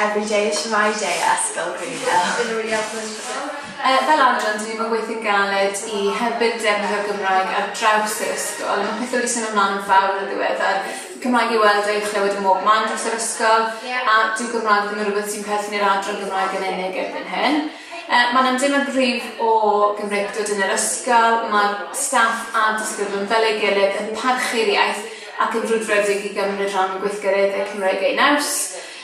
Everyday is my day, Ysgol Gwynedd. Fel adran, dyn ni'm yn gweithio'n galed i hybu'r defnyddio'r Gymraeg ar draws yr ysgol. Mae pethau wedi symud ymlaen yn fawr yn ddiweddar. Cymraeg i'w weld a'i chlywed ym mhob man dros yr ysgol, a dyw Gymraeg ddim yn rhywbeth sy'n perthyn i'r adran Gymraeg yn unig erbyn hyn. Mae yna ymdeimlad gryf o Gymreictod yn yr ysgol, mae'r staff a'r disgyblion fel ei gilydd yn parchu'r iaith, ac yn frwdfrydig i gymryd rhan yn gweithgareddau Cymraeg eu naws.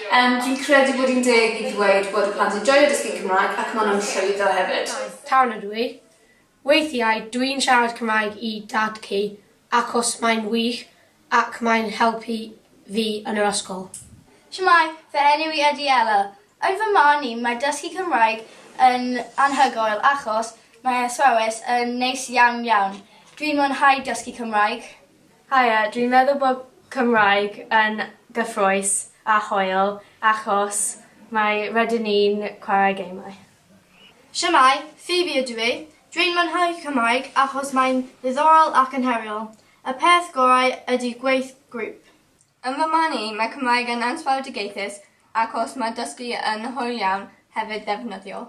Um, dwi'n credu bod hi'n deg i ddweud bod y plant yn joio dysgu Cymraeg ac maen nhw'n llwyddo hefyd. Town ydw i. Weithiau dwi'n siarad Cymraeg i dad ci achos mae'n wych ac mae'n helpu fi yn yr ysgol. Shwmae, fy enw i ydy Ella. Yn fy marn i, mae dysgu Cymraeg yn anhygoel achos mae athrawes yn neis iawn iawn. Dwi'n mwynhau dysgu Cymraeg. Haia, dwi'n meddwl bod Cymraeg yn gyffrous a hoel achos mae rydyn ni'n chwarae gemau. Shwmae, Phoebe ydw i. Dwi'n mwynhau Cymraeg achos mae'n ddiddorol ac yn heriol. Y peth gorau ydy gweith grŵp. Yn fy marn i, mae Cymraeg yn ansawdd digeithus achos mae dysgu yn hwyl iawn, hefyd ddefnyddiol.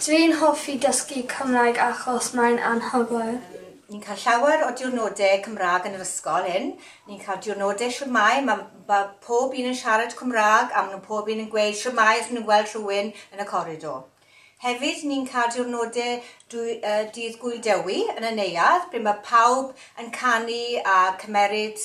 Dwi'n hoffi dysgu Cymraeg achos mae'n anhygoel. Ni'n cael llawer o diwrnodau Cymraeg yn yr ysgol hyn. Ni'n cael diwrnodau shwmae, ma' ma' pob un yn siarad Cymraeg a ma' nhw pob un yn gweud shwmae os ma' nhw'n gweld rhywun yn y coridor. Hefyd ni'n cael diwrnodau dwy- yy Dydd Gŵyl Dewi yn y neuadd ble ma' pawb yn canu a cymeryd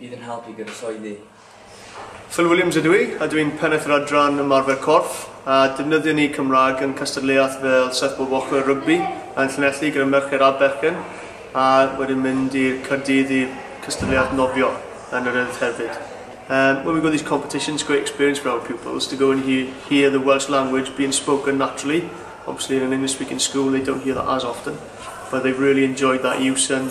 Bydd yn help i gyfasoeddi. Phil Williams ydw i a dw i'n pennaeth yr adran ymarfer corff a defnyddio ni Cymraeg yn cystadleuaeth fel Surfboard Walker Rygbi yn Llanelli gyda mercher a bechgyn a wedyn mynd i'r Caerdydd i'r cystadleuaeth nofio yn yr Urdd hefyd. Um, when we go to these competitions, it's a great experience for our pupils to go and hear, hear the Welsh language being spoken naturally. Obviously in an English speaking school they don't hear that as often, but they've really enjoyed that use and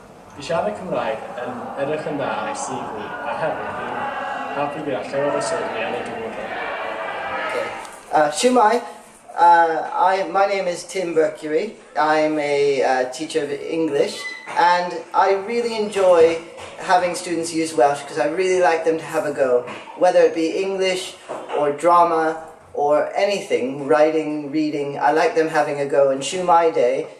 I siarad Cymraeg yn edrych yn dda ar ei CV a hefyd fi'n happi gyda llawer o swyddi yn y dyfodol. Diolch. Shwmae, I, my name is Tim Mercury, I'm a teacher of English and I really enjoy having students use Welsh because I really like them to have a go, whether it be English or drama or anything, writing, reading, I like them having a go and shwmae de,